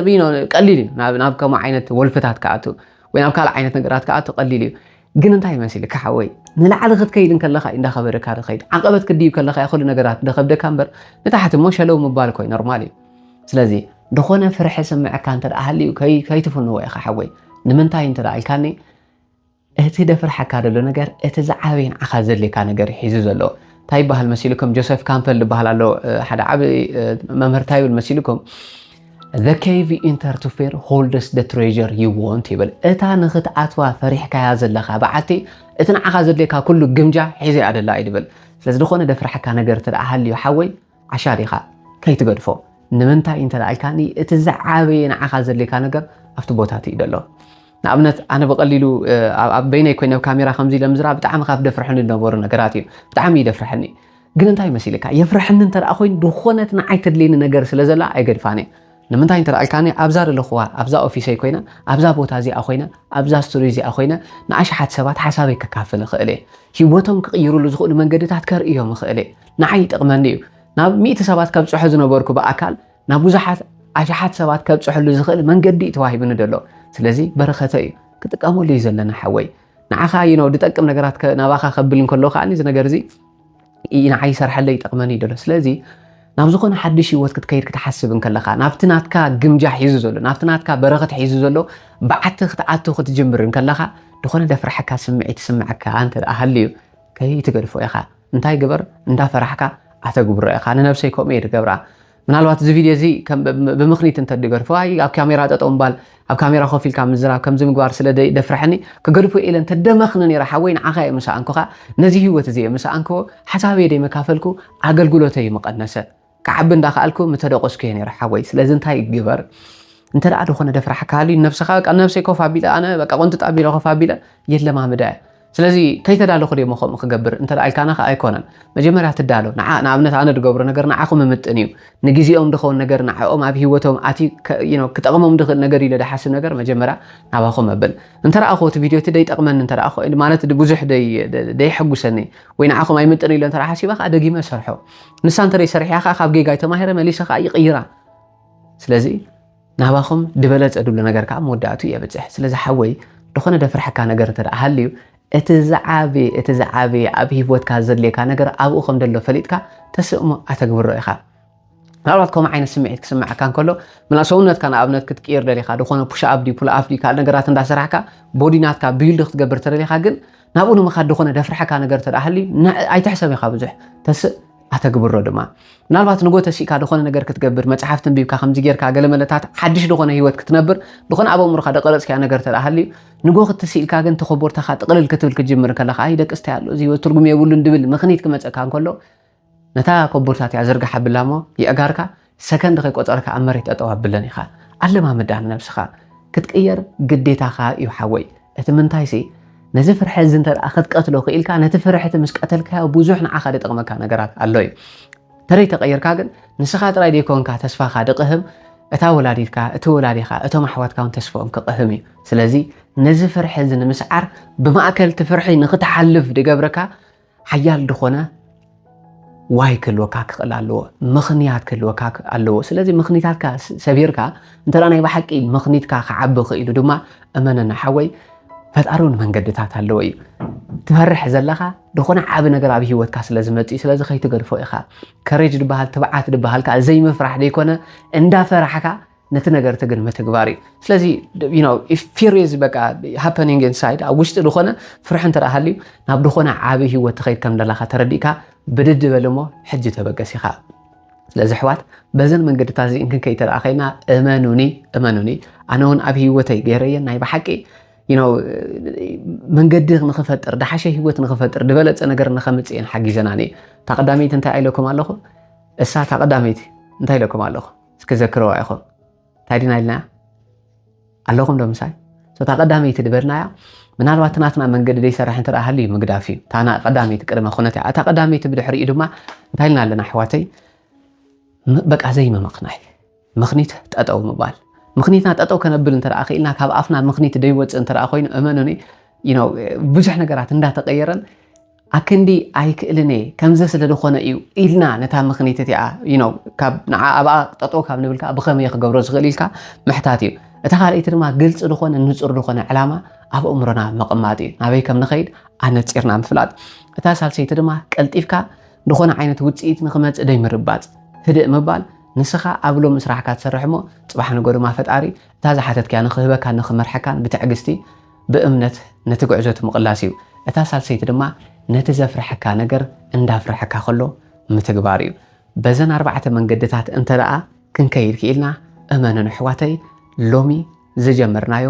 ቀሊል እዩ ናብ ከምኡ ዓይነት ወልፍታት ክኣቱ ወይ ናብ ካልእ ዓይነት ነገራት ክኣቱ ቀሊል እዩ ግን እንታይ ይመስልካ ሓወይ ንላዕሊ ክትከይድ ከለካ እዩ እንዳኸበደካ ዝኸይድ ዓቐበት ክድይብ ከለካ ኩሉ ነገራት ደኸብደካ እምበር ንታሕቲ እሞ ሸለው ምባል ኮይ ኖርማል እዩ ስለዚ ዝኾነ ፍርሒ ስምዕካ እንተ ሃልዩ ከይትፍንዎ ኢኻ ሓወይ ንምንታይ እንተ ኢልካኒ እቲ ደፍርሓካ ዘሎ ነገር እቲ ዝዓበየ ንዓኻ ዘድልየካ ነገር ሒዙ ዘሎ እንታይ ይበሃል መሲልኩም ጆሴፍ ካምፐል ዝበሃል ኣሎ ሓደ ዓብ መምህር እንታይ ይብል መሲልኩም ዘ ኬቭ ኢንተር ቱ ፌር ሆልደስ ደ ትሬዠር ዩ ወንት ይብል እታ ንኽትኣትዋ ፈሪሕካያ ዘለካ በዓቲ እቲ ንዓኻ ዘድልየካ ኩሉ ግምጃ ሒዘ ኣደላ እዩ ድብል ስለዚ ዝኾነ ደፍርሓካ ነገር ትደኣ ሃልዩ ሓወይ ዓሻ ኢኻ ከይትገድፎ ንምንታይ እንተ ኢልካኒ እቲ ዝዓበየ ንዓኻ ዘድልየካ ነገር ኣብቲ ቦታ እቲ እዩ ዘሎ ንኣብነት ኣነ ብቐሊሉ ኣብ በይነይ ኮይነ ኣብ ካሜራ ከምዚ ኢለ ምዝራ ብጣዕሚ ካብ ደፍርሐኒ ዝነበሩ ነገራት እዩ ብጣዕሚ ይደፍርሐኒ ግን እንታይ መሲልካ የፍርሐኒ እንተ ኮይኑ ዝኾነት ንዓይ ተድልየኒ ነገር ስለ ዘላ ኣይገድፋን እየ ንምንታይ እንተ ኣልካኒ ኣብዛ ዘለኹዋ ኣብዛ ኦፊሰይ ኮይነ ኣብዛ ቦታ እዚኣ ኮይነ ኣብዛ ስቱድዮ እዚኣ ኮይነ ንኣሽሓት ሰባት ሓሳበይ ከካፍል ይኽእል እየ ሂወቶም ክቕይሩሉ ዝኽእሉ መንገድታት ከርእዮም ይኽእል እየ ንዓይ ይጠቕመኒ እዩ። ናብ ሚእቲ ሰባት ከብጽሖ ዝነበርኩ ብኣካል ናብ ብዙሓት ኣሽሓት ሰባት ከብጽሐሉ ዝኽእል መንገዲ እዩ ተዋሂቡኒ ዘሎ። ስለዚ በረኸተ እዩ ክጥቀመሉ እዩ ዘለና ሓወይ። ንዓኻ እዩ ነው ድጠቅም ነገራት ናባኻ ከብል እንከሎ ከዓኒ እዚ ነገር እዚ ንዓይ ይሰርሐለይ ይጠቕመኒ እዩ ደሎ ስለዚ ናብ ዝኾነ ሓድሽ ህይወት ክትከይድ ክትሓስብ እንከለኻ ናብቲ ናትካ ግምጃ ሒዙ ዘሎ ናብቲ ናትካ በረኸት ሒዙ ዘሎ ብዓቲ ክትኣቱ ክትጅምር እንከለኻ ዝኾነ ደፍራሕካ ስምዒት ስምዐካ እንተ ሃልዩ ከይትገድፎ ኢኻ እንታይ ግበር እንዳፈራሕካ ኣተግብሮ ኢኻ ንነብሰይ ከምኡ እየ ድገብራ ምናልባት እዚ ቪድዮ እዚ ብምኽኒት እንተድገድፎ ኣይ ኣብ ካሜራ ጠጠው ምባል ኣብ ካሜራ ኮፍ ኢልካ ምዝራብ ከምዚ ምግባር ስለ ደፍረሐኒ ክገድፎ ኢለ እንተደመኽኒ ነይረ ሓወይ ንዓኻ እየ ምሰኣንኩኻ ነዚ ህይወት እዚ እየ ምሰኣንክዎ ሓሳበይ ደይመካፈልኩ ኣገልግሎተይ ምቐነሰ ክዓቢ እንዳከኣልኩ ምተደቆስኩ እየ ነይረ ሓወይ ስለዚ እንታይ ግበር እንተ ዝኾነ ደፍራሕካ ሃልዩ ነብስኻ በቃ ነብሰይ ኮፍ ኣቢለ ኣነ በቃ ቆንጥጥ ኣቢለ ኮፍ ኣቢለ የለማምዳ እያ ስለዚ ከይተዳለኹ ደሞ ከምኡ ክገብር እንተ ኢልካና ከ ኣይኮነን መጀመርያ ትዳሎ ንዓ ንኣብነት ኣነ ዝገብሮ ነገር ንዓኹ ምምጥን እዩ ንግዜኦም ድኸውን ነገር ንዓኦም ኣብ ሂወቶም ኣትዩ ክጠቕሞም ድኽእል ነገር ኢለ ድሓስብ ነገር መጀመርያ ናባኹም መብል እንተ ረኣኹ እቲ ቪድዮ እቲ ደይጠቕመኒ እንተ ማለት ብዙሕ ደይሕጉሰኒ ወይ ንዓኹም ኣይምጥን ኢለ እንተ ሓሲበ ከዓ ደጊመ ሰርሖ ንሳ እንተደይ ሰሪሓ ከኣ ካብ ጌጋይ ተማሂረ መሊሰ ከኣ ይቅይራ ስለዚ ናባኹም ድበለጸ ድብሎ ነገር ከኣ መወዳእቱ የብጽሕ ስለዚ ሓወይ ድኾነ ደፍርሐካ ነገር እንተ ሃልዩ እቲ ዝዓበየ እቲ ዝዓበየ ኣብ ሂወትካ ዘድልየካ ነገር ኣብኡ ከም ደሎ ፈሊጥካ ተስእሞ ኣተግብሮ ኢኻ ምናልባት ከምኡ ዓይነት ስምዒት ክስምዓካ እንከሎ ምና ሰውነትካ ንኣብነት ክትቅይር ደሊኻ ዝኾነ ፑሽ ኣብ ዲ ፑል ኣፍ ዲ ካልእ ነገራት እንዳሰራሕካ ቦዲ ናትካ ቢልድ ክትገብር ተደሊኻ ግን ናብኡ ንምኻድ ዝኾነ ደፍርሐካ ነገር ተደኣ ሃልዩ ኣይትሕሰብ ኢኻ ብዙሕ ተስእ ኣተግብሮ ድማ ምናልባት ንጎ ተሲእካ ዝኾነ ነገር ክትገብር መጽሓፍ ተንቢብካ ከምዚ ጌርካ ገለ መለታት ሓድሽ ዝኾነ ህይወት ክትነብር ዝኾነ ኣብ ኣእምሮኻ ደቀረጽካዮ ነገር ተደኣ ሃልዩ ንጎ ክትስኢልካ ግን ተኾቦርታኻ ጥቕልል ክትብል ክትጅምር ከለኻ ኣይ ደቅስታይ ኣሎ እዚ ህይወት ትርጉም የብሉን ድብል ምኽኒት ክመጸካ እንከሎ ነታ ኮቦርታ እቲኣ ዝርግሓ ብላሞ የእጋርካ ሰከንድ ከይቆጸርካ ኣብ መሬት ጠጠው ኣብለን ኢኻ ኣለማምዳ ንነብስኻ ክትቅየር ግዴታኻ እዩ ሓወይ እቲ ምንታይሲ ነዚ ፍርሒ እዚ እንተ ክትቀትሎ ክኢልካ ነቲ ፍርሒ እቲ ምስ ቀተልካዮ ብዙሕ ንዓኻ ዝጠቕመካ ነገራት ኣሎ እዩ ተደይ ተቐይርካ ግን ንስኻ ጥራይ ዘይኮንካ ተስፋኻ ድቕህም እታ ወላዲትካ እቲ ወላዲኻ እቶም ኣሕዋትካ እውን ተስፍኦም ክቕህም እዩ ስለዚ ነዚ ፍርሒ እዚ ንምስዓር ብማእከል እቲ ፍርሒ ንክትሓልፍ ድገብረካ ሓያል ድኾነ ዋይ ክህልወካ ክኽእል ኣለዎ ምኽንያት ክህልወካ ኣለዎ ስለዚ ምኽኒታትካ ሰቢርካ እንተ ናይ ብሓቂ ምኽኒትካ ክዓቢ ክኢሉ ድማ እመነና ሓወይ ፈጣሪ እውን መንገድታት ኣለዎ እዩ ትፈርሕ ዘለኻ ዝኾነ ዓብ ነገር ኣብ ሂወትካ ስለ ዝመፅእ ስለዚ ከይትገድፎ ኢኻ ከሬጅ ድበሃል ትብዓት ድበሃል ከዓ ዘይምፍራሕ ዘይኮነ እንዳፈራሕካ ነቲ ነገርቲ ግን ምትግባር እዩ ስለዚ ፊሪዝ በቃ ሃፐኒንግ ኢንሳይድ ኣብ ውሽጢ ዝኾነ ፍርሒ እንተ ሃልዩ ናብ ዝኾነ ዓብዪ ሂወት ትኸይድ ከም ደላካ ተረዲእካ ብድድ በል እሞ ሕጂ ተበገስ ኢኻ ስለዚ ኣሕዋት በዘን መንገድታት እዚ እንክንከይ ተደኣ ከይና እመኑኒ እመኑኒ ኣነ እውን ኣብ ሂወተይ ገይረየን ናይ ብሓቂ መንገዲ ንክፈጥር ድሓሸ ሂወት ንክፈጥር ዝበለፀ ነገር ንከምፅእን ሓጊዘናኒ እታ ቀዳመይቲ እንታይ ኣይለኩም ኣለኹ እሳ እታ ቀዳመይቲ እንታይ ኢለኩም ኣለኹ እስኪ ዘክረዋ ኢኹም እንታይ ድና ኢልና ኣለኹም ዶ ምሳይ እታ ቀዳመይቲ ዝበልናያ ምናልባት ናትና መንገዲ ዘይሰርሕ እንተ ሃልዩ ምግዳፍ እዩ እታ ቀዳመይቲ ቅድመ ኩነት እያ እታ ቀዳመይቲ ብድሕሪኡ ድማ እንታይ ኢልና ኣለና ኣሕዋተይ በቃ ዘይምምኽናይ ምኽኒት ጠጠው ምባል ምኽኒትና ጠጠው ከነብል እንተ ክኢልና ካብ ኣፍና ምኽኒት ደይወፅእ እንተ ኮይኑ እመኑኒ ብዙሕ ነገራት እንዳተቀየረን ኣክንዲ ኣይክእልን እየ ከምዚ ስለ ድኾነ እዩ ኢልና ነታ ምኽኒት እቲኣ you know ካብ ንዓ ኣብኣ ጠጠው ካብ ንብል ከኣ ብኸመይ እየ ክገብሮ ዝኽእል ኢልካ ምሕታት እዩ እታ ካልኣይቲ ድማ ግልፂ ዝኾነ ንፁር ዝኾነ ዕላማ ኣብ ኣእምሮና ምቕማጥ እዩ ናበይ ከም ንኸይድ ኣነፂርና ምፍላጥ እታ ሳልሰይቲ ድማ ቀልጢፍካ ዝኾነ ዓይነት ውፅኢት ንኽመፅእ ደይ ምርባፅ ህድእ ምባል ንስኻ ኣብ ሎሚ ስራሕካ ትሰርሕ እሞ ፅባሕ ንጎ ድማ ፈጣሪ እታ ዝሓተትካያ ንኽህበካን ንኽመርሐካን ብትዕግስቲ ብእምነት ነቲ ግዕዞቲ ምቕላስ እዩ። እታ ሳልሰይቲ ድማ ነቲ ዘፍርሐካ ነገር እንዳፍርሐካ ከሎ ምትግባር እዩ። በዘን ኣርባዕተ መንገድታት እንተደኣ ክንከይድ ክኢልና እመኑኒ ኣሕዋተይ ሎሚ ዝጀመርናዮ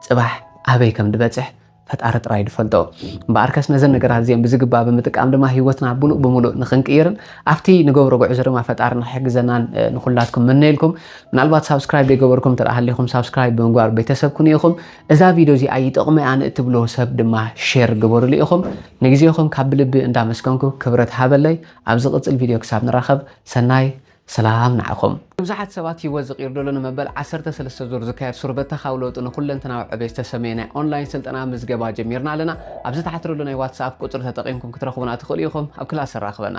ጽባሕ ኣበይ ከም ድበጽሕ ፈጣሪ ጥራይ ድፈልጦ። እምበኣርከስ ነዘን ነገራት እዚኦም ብዝግባ ብምጥቃም ድማ ህይወትና ብሉእ ብምሉእ ንክንቅይርን ኣብቲ ንገብሮ ጉዕዞ ድማ ፈጣሪ ንክሕግዘናን ንኩላትኩም ምነየልኩም። ምናልባት ሳብስክራይብ ዘይገበርኩም እንተደኣ ሃሊኹም ሳብስክራይብ ብምግባር ቤተሰብ ኩኑ ኢኹም። እዛ ቪድዮ እዚኣ ይጠቕሞ እያ ንእትብልዎ ሰብ ድማ ሼር ግበርሉ ኢኹም። ንግዜኹም ካብ ብልቢ እንዳመስገንኩ ክብረት ሃበለይ። ኣብ ዝቕጽል ቪድዮ ክሳብ ንራኸብ ሰናይ ሰላም ንዓኹም። ንብዙሓት ሰባት ህይወት ዝቕይር ዘሎ ንመበል ዓሰርተ ሰለስተ ዙር ዝካየድ ሱር በተኻዊ ለውጢ ንኩለንተናዊ ዕቤት ዝተሰምየ ናይ ኦንላይን ስልጠና ምዝገባ ጀሚርና ኣለና። ኣብ ዝተሓትረሉ ናይ ዋትስኣፕ ቁጽሪ ተጠቒምኩም ክትረኽቡና ትኽእሉ ኢኹም። ኣብ ክላስ ኣራኽበና።